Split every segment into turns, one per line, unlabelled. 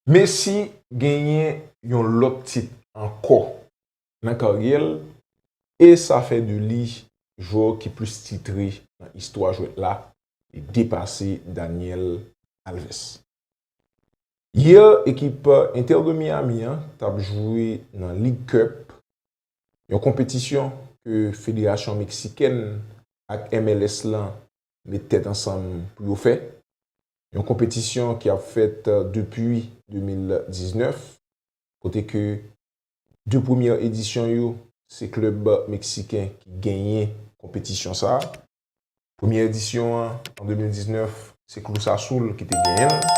Messi genyen yon lòt tit ankò nan karyè l e sa fè de li jwè ki plis titre nan istwa jwèt la, li depase Daniel Alves. Yè ekip Inter de Miami an t ap jwe nan League Cup Yon konpetisyon ke federasyon meksikèn ak MLS lan met tèt ansanm pou yo fè. Yon konpetisyon ki ap fèt depi 2019, kote ke 2 premyè edisyon yo se klèb meksiken ki genyen konpetisyon sa a. Premyè edisyon an, an 2019, se Cruz Azul ki te genyen l.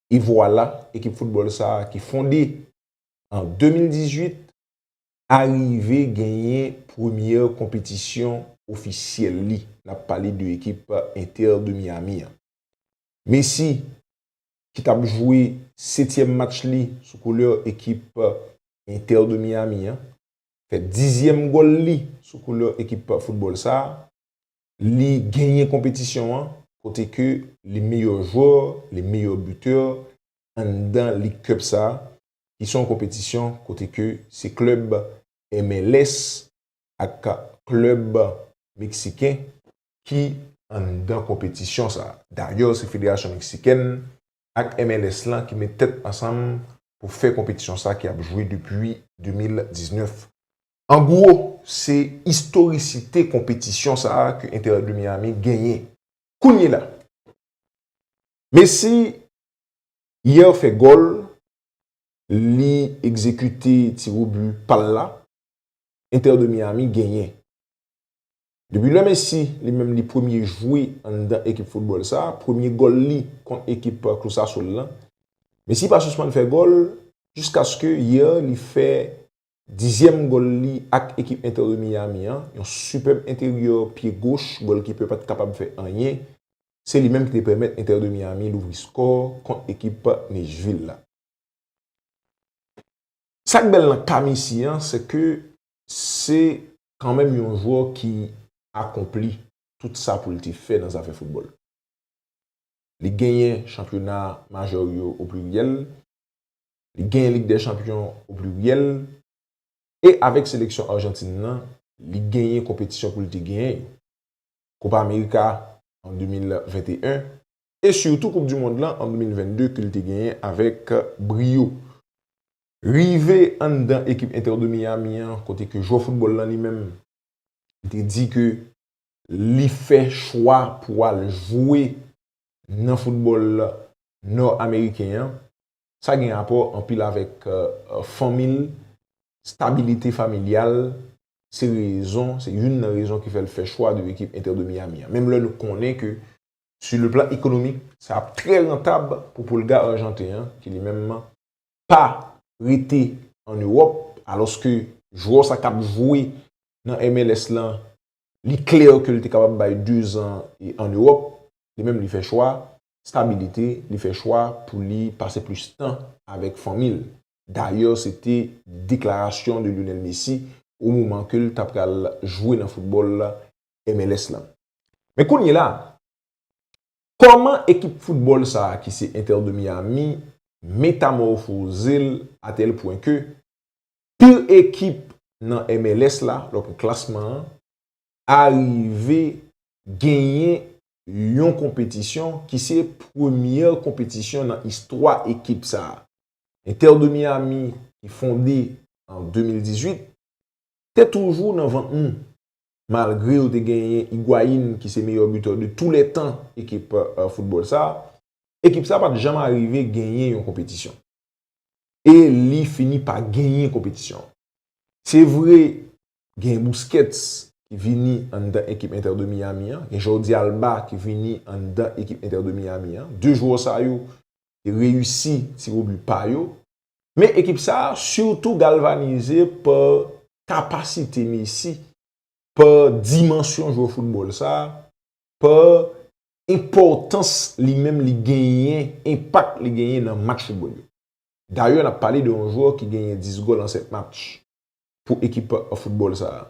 E vwala, ekip foutbòl sa a ki fonde an 2018 arive genyen premyè konpetisyon ofisyèl li. N ap pale de ekip Inter de Miami an. Messi ki t ap jwe setyèm match li sou koulè ekip Inter de Miami an, fè dizyèm gòl li sou koulè ekip foutbòl sa a. Li genyen konpetisyon an kote ke li meyò jwè, li meyò bitè anndan Lig Cup sa, ki se yon konpetisyon kote ke se klèb MLS ak klèb Meksiken ki anndan konpetisyon sa. Dayè se Federasyon Meksikèn ak MLS lan ki met tèt ansanm pou fè konpetisyon sa ki ap jwe depi 2019. An gwo, se istorisite konpetisyon sa a ke Inter de Miami genyen kounyela. Messi yè fè gòl, li egzekite tiwobi pa l la, Inter de Miami genyen. Depi lè Messi li menm li premye jwe anndan ekip foutbòl sa a, premye gòl li kont ekip Cruz Azul lan, Messi pa sispann fè gòl jiskaske yè li fè Dizyèm gòl li ak ekip Inter de Miami an, yon sipèb enteryè pye goch gòlkipè pa t kapab fè anyen, se li menm ki te pèmèt Inter de Miami louvri skò kont ekip Nashville la. Sa k bèl nan ka Messi an, se ke se kanmenm yon jwè ki akonpli tout sa pou l te fè nan zafè foutbòl. Li genyen chanpyona majè yo o pliryèl, li genyen Lig dè Chanpyon o pliryèl, e avèk seleksyon Arjantin nan, li genyen konpetisyon pou l te genyen yo, Kopa Amerika an 2021, e sitou Koup di Mond lan an 2022 ke l te genyen avèk briyo. Rive anndan ekip Inter de Miami an, kote ke jwè foutbòl lan li menm, li te di ke li fè chwa pou al jwe nan foutbòl Nò Ameriken an, Sa gen rapò anpil avèk fanmi l, stabilite familyal, se rezon, se youn nan rezon ki fè l fè chwa de ekip Inter de Miami an. Menm lè nou konnen ke su le plan ekonomik, sa ap trè rantab pou Pulga Arjanten an ki li menm pa rete an Ewòp alòske jwè sa k ap jwe nan MLS lan li klè ke l te kapab bay dezan an Ewòp, li menm li fè chwa stabilite, li fè chwa pou li pase plis tan avèk fanmi l. Dayè se te deklarasyon de Lionel Messi o moman ke l ta pral jwe nan foutbòl MLS lan. Men kounyela, kòman ekip foutbòl sa a ki se Inter de Miami metamòfoze l a tèl pwen ke pire ekip nan MLS la, lòk klasman an, arive genyen yon konpetisyon ki se premyè konpetisyon nan istwa ekip sa a. Inter de Miami ki fonde an 2018 te toujou nan vant nou malgre yo te genyen Higuain ki se meyè butè de tou lè tan ekip foutbòl sa a, ekip sa a pat janm arive genyen yon konpetisyon. e li fini pa genyen konpetisyon an. Se vre, gen Busquets ki vini anndan ekip Inter de Miami an, gen Jordi Alba ki vini anndan ekip Inter de Miami an, 2 jwè sa yo te reyisi tirobi pa yo, men ekip sa a sitou galvanize pa kapasite Messi, pa dimansyon jwè foutbòl sa a, pa enpòtans li menm li genyen, enpak li genyen nan match foutbòl yo. Dayè n ap pale de yon jwè ki genyen 10 gòl an 7 match pou ekip foutbòl sa a.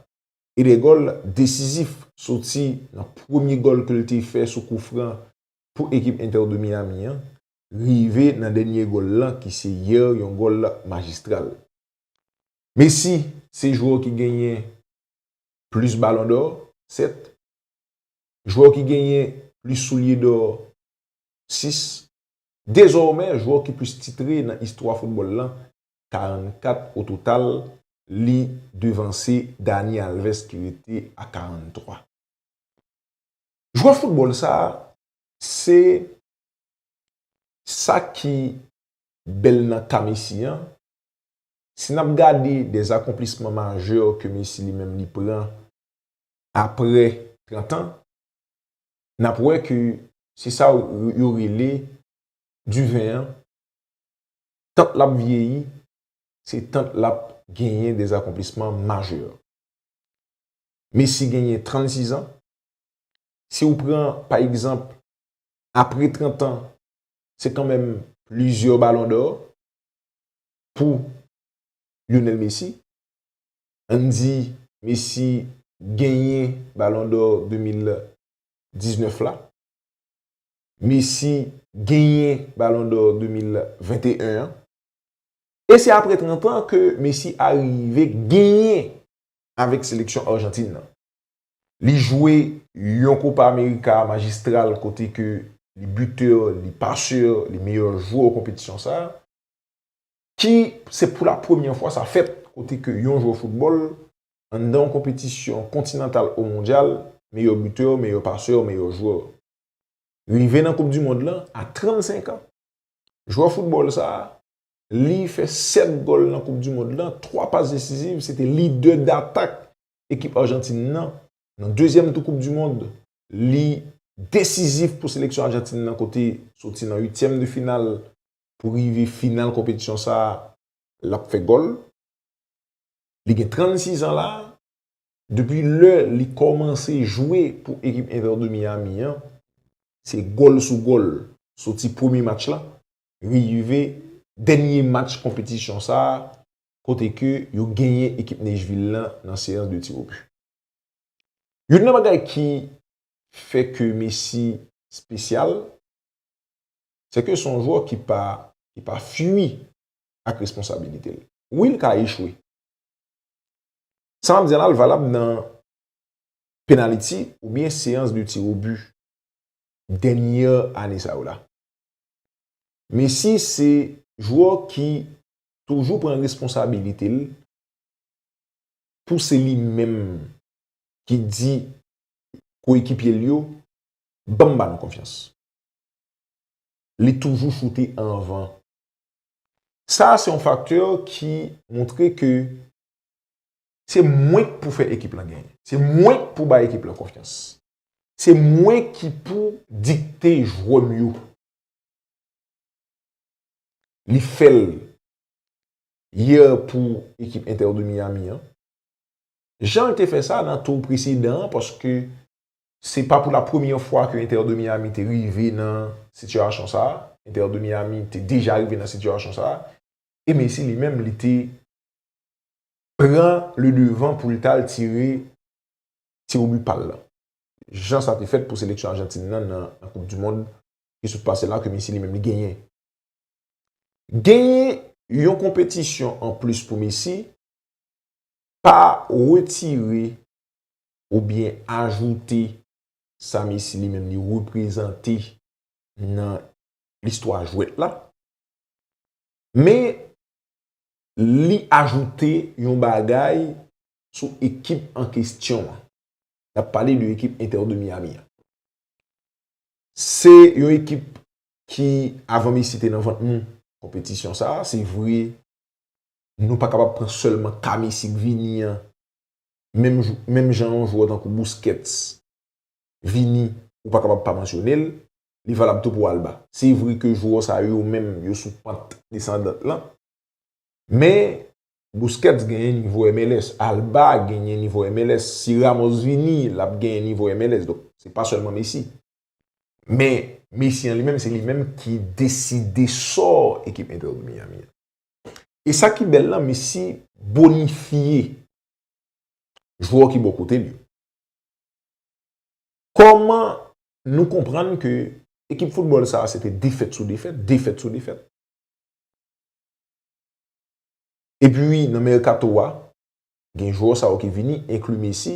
E 2 gòl desizif soti nan premye gòl ke l te fè sou kou fran pou ekip Inter de Miami an, rive nan dènye gòl lan ki se yè yon gòl majistral. Messi se jwè ki genyen plis balon dò, 7. Jwè ki genyen plis soulye dò 6. Dezòmè jwè ki plis titre nan istwa foutbòl lan, 44 ototal, li devanse Dani Alves ki rete a 43. Jwè foutbòl sa a se sa ki bèl nan ka Messi an, si n ap gade de akonplisman majè ke Messi li menm li pran aprè 30 an, n ap wè ke se sa yo rele diven an, tant l ap vyeyi, se tant l ap genyen de akonplisman majè. Messi genyen 36 an, si ou pran pa egzanp apre 30 an, se kanmenm plizyè balon dò pou Lionel Messi. Ann di Messi genyen Ballon d'Or 2019 la. Messi genyen Ballon d'Or 2021 an. E se apre 30 an ke Messi arive genyen avèk seleksyon Arjantin nan. Li jwe yon Copa America majistral kote ke li buteur, li passeur, li meyè jwè konpetisyon sa. ki se pou la premyè fwa sa fèt kote ke yon jwè foutbòl anndan yon konpetisyon kontinantal ou mondyal, meyè bitè, meyè pasè, meyè jwè. Rive nan koup di mond lan a 35 an. Jwè foutbòl sa, li fè 7 gòl nan koup di mond lan, 3 pas desiziv, se te lidè datak ekip Arjantin nan, nan dezyèm tou koup di mond, li desizif pou seleksyon Arjantin nan kote soti nan uityèm de final pou rive final konpetisyon sa a l ap fè gòl. Li gen 36 an la a. Depi lè li kòmanse jwe pou ekip Inter de Miami an, se gòl sou gòl soti premye match la rive dènye match konpetisyon sa a kote ke yo genyen ekip Nashville la nan seyans de tir au but. Youn nan bagay ki fè ke Messi spesyal, se ke son jwè ki pa ki pa fui ak responsabilite l. Wi l ka echwe. Sa map di a la l valab nan penaliti ou byen seyans de ti o bu dènyè ane sa yo la. Messi se jwè ki toujou pran responsabilite l pou se li menm ki di ko ekipye l yo banm ba nou konfyans. Li toujou choute anvan. Sa a se yon faktè ki montre ke se mwen k pou fè ekip lan genyen. Se mwen k pou bay ekip lan konfyans. Se mwen ki pou dikte jwè m yo. Li fè l yè pou ekip Inter de Miami an. Jan l te fè sa nan tour presedan an paske Se pa pou la premye fwa ke Inter de Miami te rive nan sitiyasyon sa a. Inter de Miami te deja rive nan sitiyasyon sa a. E Messi li menm li te pran le devan pou li tal tire tirobi pa l lan. Jan sa te fèt pou seleksyon Ajantin nan nan koup du mond ki sot pase la ke Messi li menm li genyen. Genyen yon konpetisyon an plis pou Messi pa retire oubyen ajoute sa Messi li menm li reprezante nan listwa jwèt la. Men, li ajoute yon bagay sou ekip an kestyon an. N ap pale de ekip Inter de Miami an. Se yon ekip ki, avan Messi te nan vant nou, konpetisyon sa a, se vre, nou pa kapab pran sèlman ka Messi k vini an menm jan yon jwè tankou Busquets, Vini, ou pa kapab pa mansyone l, li valab tou pou Alba. Se vre ke jwè sa yo menm yo sou pant desandant lan, men Busquets genyen nivo MLS, Alba genyen nivo MLS, si Ramos vini, l ap genyen nivo MLS, donk se pa sèlman Messi. Men Messi an li menm, se li menm ki deside sò ekip Inter de Miami an. E sa ki bèl la, Messi bonifye Jwè w ki bò kote l yo. Kòman nou konprann ke ekip foutbòl sa a se te defèt sou defèt, defèt sou defèt. Epi nan mèkato a, gen jwè sa yo ki vini, enkli Messi.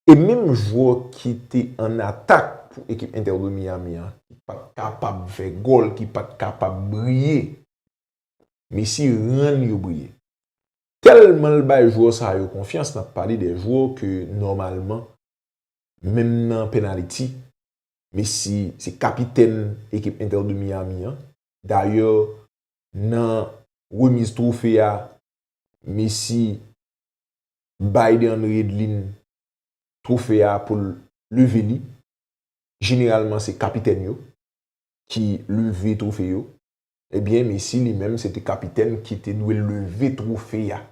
E menm jwè ki te an atak pou ekip Inter de Miami an, ki pa t kapab fè gòl, ki pa t kapab briye, Messi rann yo briye. Tèlman l bay jwè sa yo konfyans, n ap pale de jwè ke nòmalman, menm nan pennaliti, Messi se kapitèn ekip Inter de Miami an. Dayè, nan remiz twofe a, Messi bay DeAndre Yedlin twofe a pou l leve li. Jeneralman se kapitèn yo ki leve twofe yo. Ebyen Messi li menm se te kapitèn ki te dwe leve twofe a.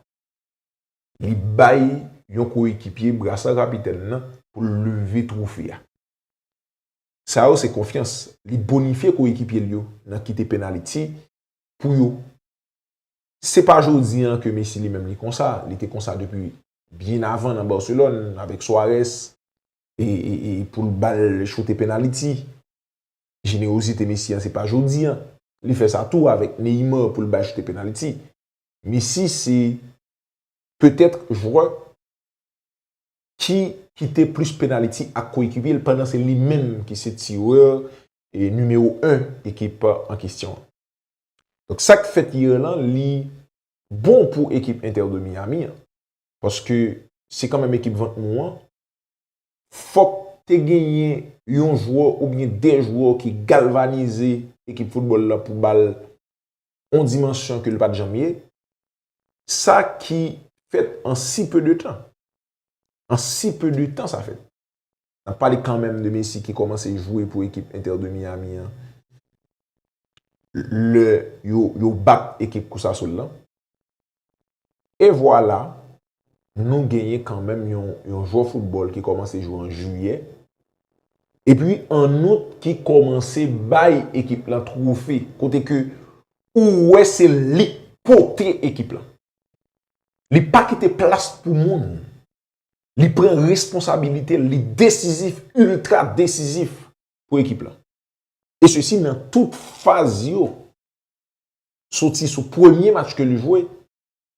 Li bay yon koyekipye brasa kapitèn nan pou l leve twofe a. Sa yo se konfyans. Li bonifye koyekipye l yo nan kite penaliti pou yo. Se pa jodi an ke Messi li menm li konsa. Li te konsa depi byen avan nan Barcelone avèk Suarez e pou l ba l choute penaliti. Jenerozite Messi an se pa jodi an li fè sa tou avèk Neymar pou l bay choute penalti. Messi se petèt jwè ki kite plis penalti ak koyekipye l pandan se li menm ki se tirè nimewo 1 ekip an kesyon an. Donk sa k fèt yè lan li bon pou ekip Inter de Miami an paske se kanmenm ekip vant mou an fòk te genyen yon jwè oubyen 2 jwè ki galvanize ekip foutbòl la pou ba l yon dimansyon ke l pa t janm ye, sa ki fèt an si pe de tan. An si pe de tan sa fèt. N ap pale kanmenm de Messi ki kòmanse jwe pou ekip Inter de Miami an lè yo bat ekip Cruz Azul lan. E vwala, nou genyen kanmenm yon jwè foutbòl ki kòmanse jwe an jiyè, epi an out ki kòmanse bay ekip lan twofe, kote ke ou wè se li k pote ekip lan. Li pa kite plas pou moun. Li pran responsabilite l, li desizif, iltra desizif pou ekip lan. E sesi nan tout faz yo. Soti sou premye match ke li jwe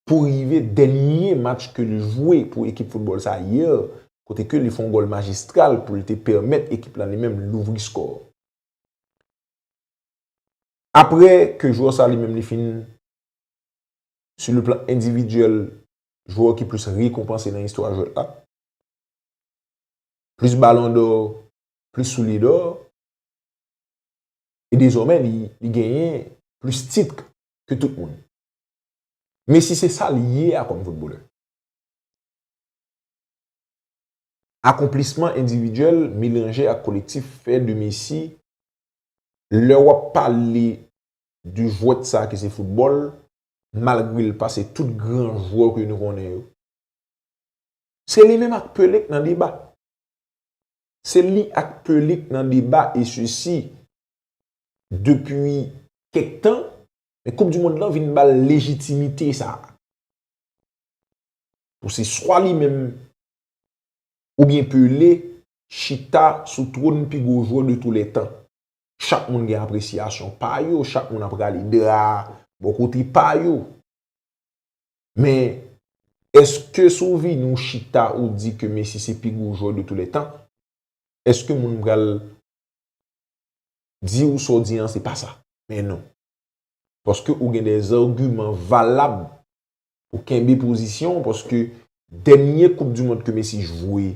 pou rive dènye match ke li jwe pou ekip foutbòl sa yè, kote ke li fè yon gòl majistral pou l te pèmèt ekip la li menm louvri skò. Aprè ke jwè sa li menm li fin sou le plan endividyèl jwè ki plis rekonpanse nan istwa jwèt la, plis balon dò, plis soulye dò, e dezòmè li genyen plis tit ke tout moun. Messi se sa li ye a kòm foutbolè. Akonplisman endividyèl melanje ak kolektif fè de Messi, lè wap pale de jwèt sa ki se foutbòl, malgre l pase tout gran jwè ke nou konnen yo. Se li menm ak Pelé k nan deba. Se li ak Peulik nan deba e sesi depi kèk tan, men koup di mond lan vin bal lejitimite sa. Pou se swa li menm oubyen Pele chita sou twòn pi gwo jwè de tou lè tan. Chak moun gen apresyasyon pa yo, chak moun ap rale dra bò kote pa yo. Men, èske si w vini w chita ou di ke Messi se pi gwo jwè de tou lè tan, èske moun pral di w sa w di an se pa sa? Men non. Paske ou gen de zagiman valab pou kenbe pozisyon w paske dènye koup di mond ke Messi jwe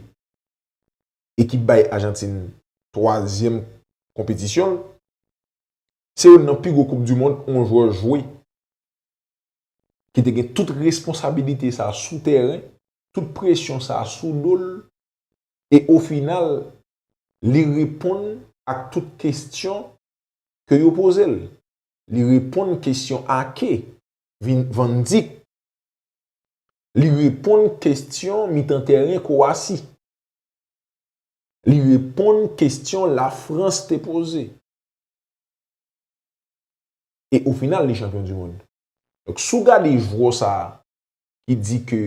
e ki bay Ajantin twazyèm konpetisyon l, se youn nan pi gwo koup di mond yon jwè jwe. ki te gen tout responsabilite sa sou tèren, tout presyon sa sou do l, e o final, li reponn ak tout kestyon ke yo poze l. Li reponn kestyon Ake, Van Dijk. Li reponn kestyon mitan tèren Kowasi. Li reponn kestyon Lafrans te poze. e o final li chanpyon du mond. Donk si w gade jwò sa ki di ke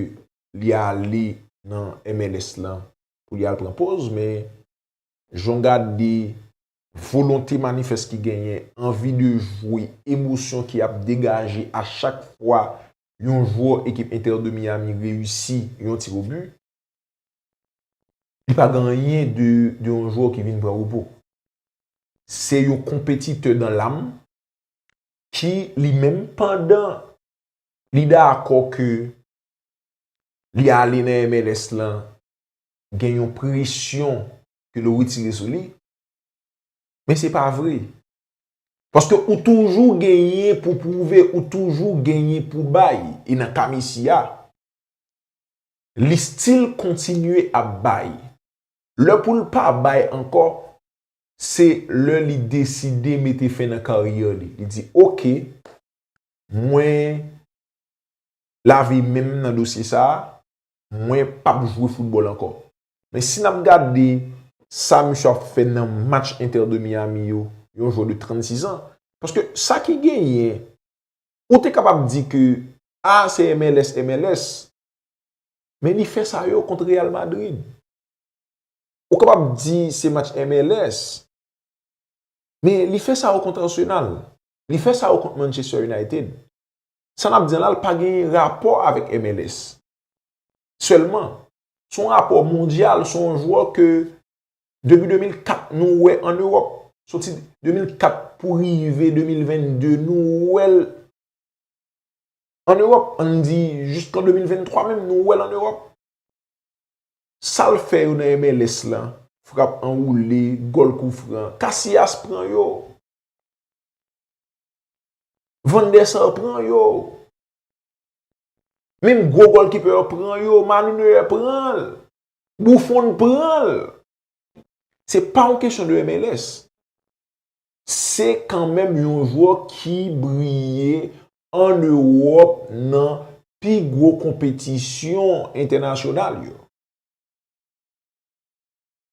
li ale nan MLS la pou li al pran poz men jan w gade volonte manifès ki genyen, anvi de jwe, emosyon ki ap degaje a chak fwa yon jwò ekip Inter de Miami reyisi yon tirobi, Li pa gen anyen de yon jwè ki vin pran repo. Se yon konpetitè dan lam ki li menm pandan li dakò ke li ale nan MLS lan gen yon presyon ke l retire sou li, men se pa vre. Paske ou toujou genyen pou pwouve, ou toujou genyen pou bay. E nan ka Messi a, Li still kontinye ap bay. Lè pou l pa bay ankò, se lè li deside mete fen nan karyè li. Li di ok, mwen lave men m nan dosye sa a, mwen p ap jwe foutbòl ankò. Men si n ap gade sa misye ap fè nan match Inter de Miami yo, yon jwè de 36 ans, paske sa ki genyen, ou te kapab di ke a se MLS, MLS, Men li fè sa yo kont Real Madrid. Ou kapab di se match MLS. Men li fè sa yo kont Arsenal. Li fè sa yo kont Manchester United. Sa n ap di an la pa gen rapò avèk MLS. Sèlman, se yon rapò mondyal, se yon jwè ke depi 2004 nou wè an Ewòp. Soti 2004 pou rive 2022 nou wè l. An Ewòp, an n di jiskan 2023 menm, nou wè l an Ewòp, sal fè yo nan MLS la, frap anwoule, gòl koufran, Casillas pran yo, Van der Sar pran yo, menm gwo gòlkipè yo pran yo, Manou Neuer pran l, Buffon pran l. Se pa yon kesyon de MLS. Se kanmenm yon jwè ki briye an Ewòp nan pi gwo konpetisyon entènasyonal yo.